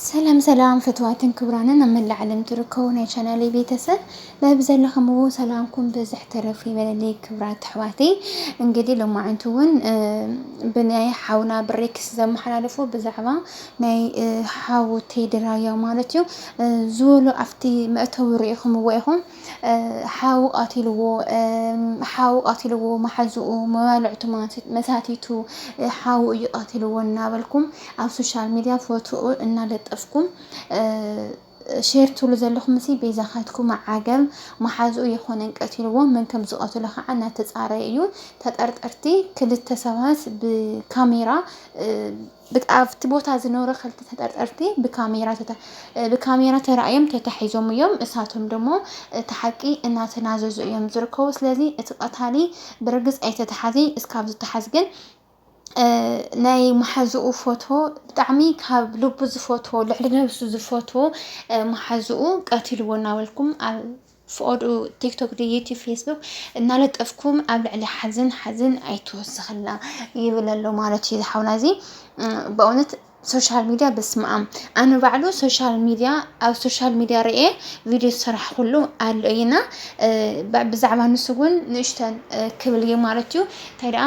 ሰላም ሰላም ፍትዋትን ክብራንን ኣብ መላእ ዓለም ትርከቡ ናይ ቻናለይ ቤተሰብ በብዘለኹምዎ ሰላምኩም ብዝሕ ተረፍ ይበለለይ ክብራት ኣሕዋተይ። እንግዲህ ሎማዕንቲ እውን ብናይ ሓውና ብሬክስ ዘመሓላለፎ ብዛዕባ ናይ ሓውተይ ድራያ ማለት እዩ ዝበሎ ኣብቲ መእተዊ ርኢኹምዎ ኢኹም ሓው ቓቲልዎ ሓው ቓቲልዎ ማሓዝኡ መባልዕቱ መሳቲቱ ሓው እዩ ቓቲልዎ እናበልኩም ኣብ ሶሻል ሚድያ ፎትኡ እናለጠፍኩም ሼር ትብሉ ዘለኹም ሲ ቤዛኻትኩም ዓገብ ማሓዝኡ የኾነን ቀቲልዎ መን ከም ዝቐትሎ ኻዓ እናተፃረየ እዩ ተጠርጠርቲ ክልተ ሰባት ብካሜራ ብት ኣብቲ ቦታ ዝነብሩ ክልተ ተጠርጠርቲ ብካሜራ ተራእዮም ተታሒዞም እዮም። እሳቶም ደሞ እቲ ሓቂ እናተናዘዙ እዮም ዝርከቡ። ስለዚ እቲ ቀታሊ ብርግፅ ኣይተተሓዘ እዩ። እስካብ ዝተሓዝ ግን ናይ መሓዝኡ ፎቶ ብጣዕሚ ካብ ልቡ ዝፈትዎ ልዕሊ ነብሱ ዝፈትዎ መሓዝኡ ቀቲልዎ እናበልኩም ኣብ ፍቐድኡ ቲክቶክ ዶ ዩቲብ ፌስቡክ እናለጠፍኩም ኣብ ልዕሊ ሓዝን ሓዝን ኣይትወስኽልና ይብል ኣሎ ማለት እዩ ዝሓውና እዚ በእውነት ሶሻል ሚድያ በስመኣም ኣነ ባዕሉ ሶሻል ሚድያ ኣብ ሶሻል ሚድያ ርኤ ቪድዮ ዝሰራሕኩሉ ኣሎ እዩና ብዛዕባ ንሱ እውን ንእሽተን ክብል እዩ ማለት እዩ እንታይ ደኣ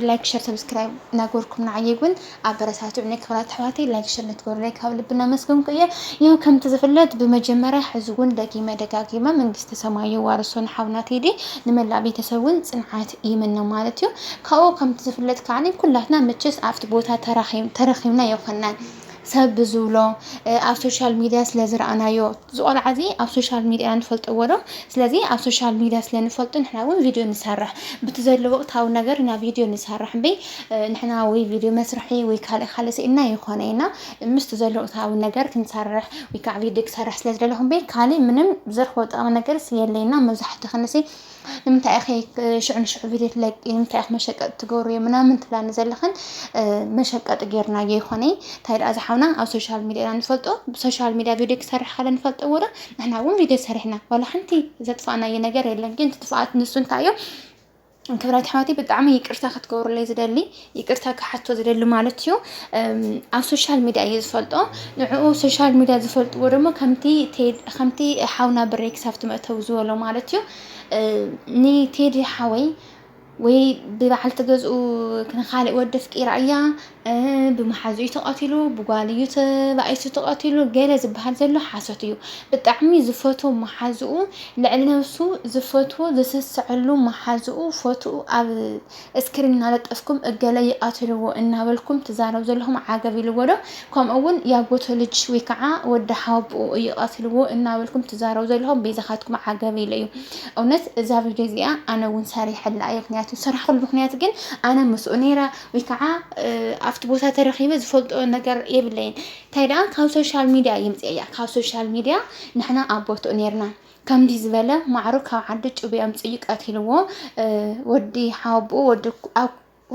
ላይክ ሸር ሰብስክራይብ እናገበርኩም ንዓየይ እውን ኣበረታቱዑኒ ክብራት ኣሕዋተይ ላይክ ሸር ንትገብሩለይ ካብ ልቢ እናመስገንኩ እየ ያው ከምቲ ዝፍለጥ ብመጀመርያ ሕዚ እውን ደጊመ ደጋጊመ መንግስተ ሰማይ የዋርሶ ንሓውና ቴዲ ንመላእ ቤተሰብ እውን ፅንዓት ይምነ ማለት እዩ ካብኡ ከምቲ ዝፍለጥ ከዓኒ ኩላትና መቸስ ኣብቲ ቦታ ተረኺብና የኮናን ሰብ ብዝብሎ ኣብ ሶሻል ሚድያ ስለ ዝረኣናዮ እዚ ቆልዓ እዚ ኣብ ሶሻል ሚድያ ንፈልጥዎ ዶ ስለዚ ኣብ ሶሻል ሚድያ ስለ ንፈልጦ ንሕና ውን ቪድዮ ንሰርሕ ብቲ ዘሎ ወቅታዊ ነገር ኢና ቪድዮ ንሰርሕ እምበይ ንሕና ወይ ቪድዮ መስርሒ ወይ ካልእ ካልእ ስኢንና ኣይኾነይና ምስቲ ዘሎ ወቅታዊ ነገር ክንሰርሕ ወይ ከዓ ቪድዮ ክሰርሕ ስለ ዝደለኹ እምበይ ካልእ ምንም ዝረኽቦ ጠቃሚ ነገርስ የለይና መብዛሕትኽንሲ ንምንታይ ኢኺ ሽዑ ንሽዑ ቪድዮ ትለቂ ንምንታይ ኢኺ መሸቀጢ ትገብርዮ ምናምን ትብላኒ ዘለኽን መሸቀጢ ጌርናዮ ይኾነይ እንታይ ደኣ ዝሓውና ኣብ ሶሻል ሚድያ ኢና ንፈልጦ ብሶሻል ሚድያ ቪድዮ ክሰርሕ ካለ ንፈልጦ ወረ ንሕና እውን ቪድዮ ሰሪሕና ዋላ ሓንቲ ዘጥፋእናዮ ነገር የለን ግን ትጥፋኣት ንሱ እንታይ እዩ ክብረት ኣሕዋተይ ብጣዕሚ ይቅርታ ክትገብሩለይ ዝደሊ ይቅርታ ክሓቶ ዝደሊ ማለት እዩ ኣብ ሶሻል ሚድያ እየ ዝፈልጦ ንዕኡ ሶሻል ሚድያ ዝፈልጥዎ ደሞ ከምቲ ሓውና ብረይ ክሳብቲ መእተዊ ዝበሎ ማለት እዩ ንቴዲ ሓወይ ወይ ብበዓል ትገዝኡ ንካልእ ወዲ ኣፍቂራ እያ ብመሓዙ እዩ ተቐቲሉ ብጓል እዩ ተባኢሱ ተቐቲሉ ገለ ዝበሃል ዘሎ ሓሶት እዩ ብጣዕሚ ዝፈትዎ መሓዝኡ ልዕሊ ነብሱ ዝፈትዎ ዝስስዐሉ መሓዝኡ ፈትኡ ኣብ እስክሪን እናለጠፍኩም እገለ ይቃትልዎ እናበልኩም ትዛረቡ ዘለኹም ዓገብ ኢልዎ ዶ ከምኡ እውን ያጎቶ ልጅ ወይ ከዓ ወዲ ሓወብኡ እዩ ቃትልዎ እናበልኩም ትዛረቡ ዘለኹም ቤዛኻትኩም ዓገብ ኢሉ እዩ እውነት እዛ ቪድዮ እዚኣ ኣነ እውን ሰሪሐላ እየ ምክንያቱ ሰራሕሉ ምክንያት ግን ኣነ ምስኡ ነይረ ወይ ከዓ ኣብቲ ቦታ ተረኺበ ዝፈልጦ ነገር የብለይን እንታይ ደኣ ካብ ሶሻል ሚድያ ይምፅእ እያ ካብ ሶሻል ሚድያ ንሕና ኣብ ቦትኡ ነይርና ከምድይ ዝበለ ማዕሮ ካብ ዓዲ ጩቤ ኣምጽእዩ ቀቲልዎ ወዲ ሓወብኡ ወዲ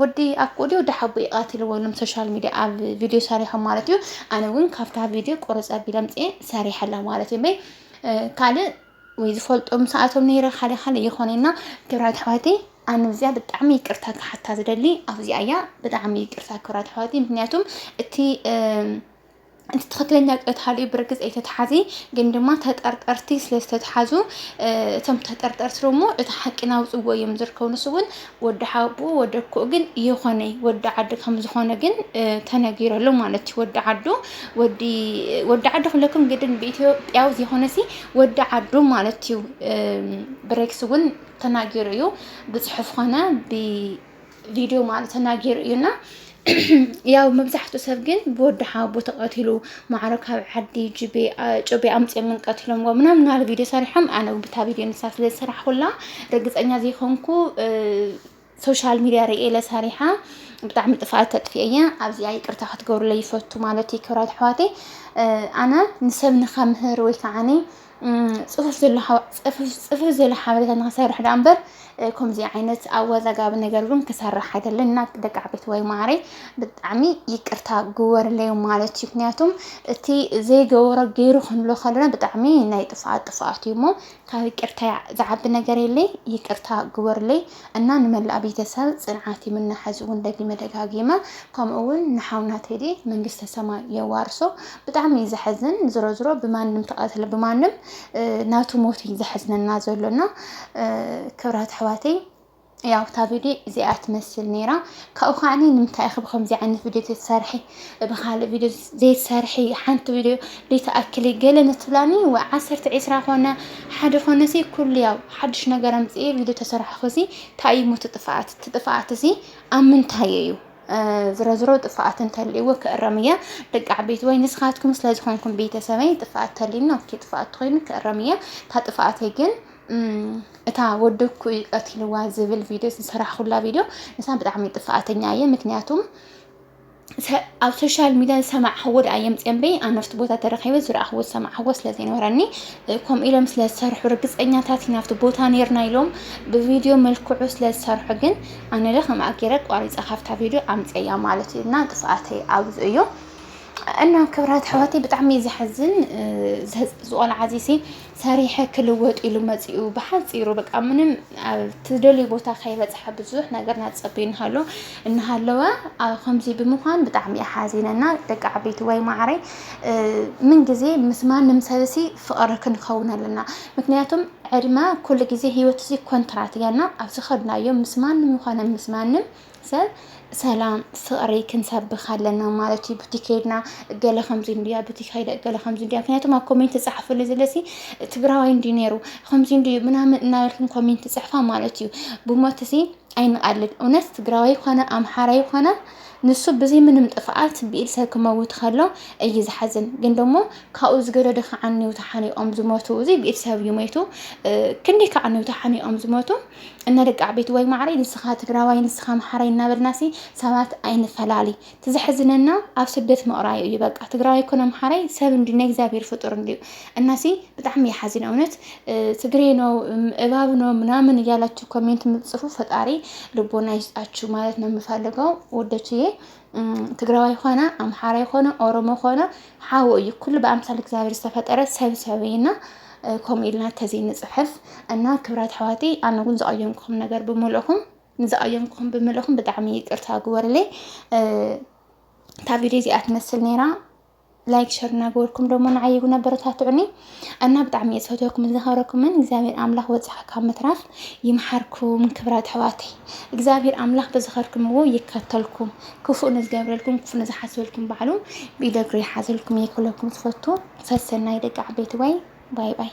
ወዲ ኣኩኡ ድዩ ወዲ ሓቡኡ ይቃትልዎ ኢሎም ሶሻል ሚድያ ኣብ ቪድዮ ሰሪሖም ማለት እዩ ኣነ እውን ካብታ ቪድዮ ቁርፅ ኣቢለ ኣምፅኤ ሰሪሐላ ማለት እዩ እምበይ ካልእ ወይ ዝፈልጦ ምስኣቶም ነይረ ሓደ ካልእ ይኾነና ክብራት ኣሕዋተይ ኣነ እዚኣ ብጣዕሚ ይቅርታ ክሓታ ዝደሊ ኣብዚኣ እያ ብጣዕሚ ይቅርታ ክብራት ኣሕዋተይ ምክንያቱም እቲ እቲ ትክክለኛ ቀታሊ ብርግፅ ኣይተተሓዘ ግን ድማ ተጠርጠርቲ ስለ ዝተተሓዙ እቶም ተጠርጠርቲ ደግሞ እቲ ሓቂ ናውፅዎ እዮም ዝርከቡ ንሱ እውን ወዲ ሓቡ ወዲ ኮኡ ግን የኾነ ወዲ ዓዲ ከም ዝኾነ ግን ተነጊረሉ ማለት እዩ ወዲ ዓዱ ወዲ ወዲ ዓዱ ክብለኩም ግድን ብኢትዮጵያዊ ዝኾነ ሲ ወዲ ዓዱ ማለት እዩ ብሬክስ እውን ተናጊሩ እዩ ብፅሑፍ ኾነ ብ ቪድዮ ማለት ተናጊሩ እዩ እና ያው መብዛሕትኡ ሰብ ግን ብወዲ ሓቦ ተቐቲሉ ማዕሮ ካብ ዓዲ ጩቤ ኣምፅኦምን ቀቲሎምዎ ምናምን ናል ቪድዮ ሰሪሖም ኣነ ብታ ቪድዮ ንሳ ስለ ዝሰራሕኩላ ርግፀኛ ዘይኮንኩ ሶሻል ሚዲያ ርእየ ለሰሪሓ ብጣዕሚ ጥፍኣት ተጥፍኤ እየ ኣብዚኣ ይቅርታ ክትገብሩለይ ይፈቱ ማለት እዩ ክብራት ኣሕዋተይ ኣነ ንሰብ ንከምህር ወይ ከዓኒ ጽፉፍ ዘሎ ሓ- ጽፉፍ- ጽፉፍ ዘሎ ሓበሬታ ንክሰርሕ ደኣ እምበር እ፣ ከምዚ ዓይነት ኣወዛጋቢ ነገር እውን ክሰርሕ ኣይደልን እና ደቂ ዓበይቲ ወይ ማዕረይ ብጣዕሚ ይቅርታ ግበርለይ ማለት እዩ ምክንያቱም እቲ ዘይገበሮ ገይሩ ክንብሎ ከለና ብጣዕሚ ናይ ጥፍኣት ጥፍኣት እዩ እሞ ካብ ይቅርታ ዝዓቢ ነገር የለይ ይቅርታ ግበርለይ እና ንመላእ ቤተሰብ ፅንዓት ይምነ ሐዚ እውን ደጊመ ደጋጊመ ከምኡ እውን ንሓውና ቴዲ መንግስተ ሰማይ የዋርሶ ብጣዕሚ እዩ ዘሐዝን ዝሮ ዝሮ ብማንም ተቀትለ ብማንም ናቱ ሞት እዩ ዘሐዝነና ዘሎ እና ክብራት ኣሕዋተይ ያው እታ ቪድዮ እዚኣ ትመስል ነይራ ካብኡ ከዓኒ ንምንታይ ኢኺ ብከምዚ ዓይነት ቪድዮ ተትሰርሒ ብካልእ ቪድዮ ዘይትሰርሒ ሓንቲ ቪድዮ ዘይትኣክሊ ገለ ንትብላኒ ወይ ዓሰርተ ዒስራ ኮነ ሓደ ኮነሲ ኩሉ ያው ሓድሽ ነገር ኣምፅኤ ቪድዮ ተሰርሕኹሲ እንታይ እዩ ሞቲ ጥፍኣት እቲ ጥፍኣት እዚ ኣብ ምንታይ እዩ ዝሮ ዝሮ ጥፍኣት እንተልእዎ ክእረም እያ ደቂ ዓበይቲ ወይ ንስኻትኩም ስለ ዝኾንኩም ቤተሰበይ ጥፍኣት ተልዩኒ ኦኬ ጥፍኣት ተኮይኑ ክእረም እያ እታ ጥፍኣተይ ግን እታ ወደኩ እዩ ቀቲልዋ ዝብል ቪድዮ ዝሰራሕኩላ ቪድዮ ንሳ ብጣዕሚ ጥፍኣተኛ እየ ምክንያቱም ኣብ ሶሻል ሚድያ ዝሰማዕኽዎ ድኣ የምፅእ እምበይ ኣነ ኣብቲ ቦታ ተረኺበ ዝረኣኽዎ ዝሰማዕኽዎ ስለ ዘይነበረኒ ከምኡ ኢሎም ስለ ዝሰርሑ ርግፀኛታት ኢና ኣብቲ ቦታ ነርና ኢሎም ብቪድዮ መልክዑ ስለ ዝሰርሑ ግን ኣነ ለ ከምኣ ገይረ ቋሪፀ ካብታ ቪድዮ ኣምፅያ ማለት እዩ እና እንቅስቃሰይ ኣብዚ እዩ እና ክብራት ኣሕዋተይ ብጣዕሚ እዩ ዘሕዝን ዝቆልዓ ዚሲ ሰሪሐ ክልወጥ ኢሉ መጺኡ ብሓጺሩ በቃ ምንም ኣብ ትደልዩ ቦታ ከይበጽሐ ብዙሕ ነገር ናጸቢ እንሃሎ እናሃለወ ኣብ ከምዚ ብምዃን ብጣዕሚ እየ ሓዚነና ደቂ ዓበይቲ ወይ ማዕረይ ምን ግዜ ምስ ማንም ሰብሲ ፍቕሪ ክንኸውን ኣለና ምክንያቱም ዕድመ ኩሉ ግዜ ህይወት እዚ ኮንትራት እያና ኣብ ዝኸድናዮ ምስ ማንም ይኾነ ምስ ማንም ሰብ ሰላም ፍቕሪ ክንሰብኽ ኣለና ማለት እዩ ቡቲ ከይድና ገለ ከምዚ እንድያ ቡቲ ከይደ ገለ ከምዚ እንድያ ምክንያቱም ኣብ ኮሜንት ዝፀሓፈሉ ዘለሲ ትግራዋይ እንዲ ነይሩ ከምዚ እንድዩ ምናምን እናበልክን ኮሜንት ዝፅሕፋ ማለት እዩ ብሞት እዚ ኣይንቃልን እውነት ትግራዋይ ኮነ ኣምሓራይ ኮነ ንሱ ብዘይ ምንም ጥፍኣት ብኢድ ሰብ ክመውት ከሎ እዩ ዝሓዝን ግን ደሞ ካብኡ ዝገደደ ከዓኒ ተሓኒቆም ዝሞቱ እዚ ብኢድ ሰብ እዩ ሞይቱ ክንደይ ከዓኒ ተሓኒቆም ዝሞቱ እነ ደቂ ዓበይቲ ወይ ማዕረይ ንስኻ ትግራዋይ ንስኻ ኣምሓራይ እናበልናሲ ሰባት ኣይንፈላሊ እቲ ዘሕዝነና ኣብ ስደት ምቕራዩ እዩ በቃ ትግራዋይ ኮነ ኣምሓራይ ሰብ እንዲ ናይ እግዚኣብሔር ፍጡር እንዲዩ እናሲ በጣም ያሓዝን እውነት ትግሬ ነው እባብ ነው ምናምን እያላችሁ ኮሜንት የምትጽፉ ፈጣሪ ልቦና ይስጣችሁ ማለት ነው የምፈልገው ወደችዬ ትግራዋይ ኾነ ኣምሓራይ ኾነ ኦሮሞ ኾነ ሓው እዩ። ኩሉ ብኣምሳል እግዚኣብሔር ዝተፈጠረ ሰብ ሰብ እዩና ከምኡ ኢልና ተዘይ ንፅሕፍ እና ክብራት ኣሕዋቲ ኣነ እውን ዝቐየምኩም ነገር ብምልእኹም ንዝቐየምኩም ብምልእኹም ብጣዕሚ ይቅርታ ግበሩለይ። እታ ቪድዮ እዚኣ ትመስል ነይራ። ላይክ ሸር እናገበርኩም ደሞ ንዓይ ይጉን ኣበረታትዑኒ እና ብጣዕሚ እየ ዝፈትወኩምን ዘኸብረኩምን እግዚኣብሔር ኣምላኽ ወፂኻ ካብ ምትራፍ ይምሓርኩም ክብራት ኣሕዋተይ እግዚኣብሔር ኣምላኽ ብዝኸርኩምዎ ይከተልኩም ክፉእ ንዝገብረልኩም ክፉእ ንዝሓስበልኩም ባዕሉ ብኢደ እግሪ ይሓዘልኩም እየ ክብለኩም ዝፈቱ ሰሰናይ ደቂ ዓበይቲ ወይ ባይ ባይ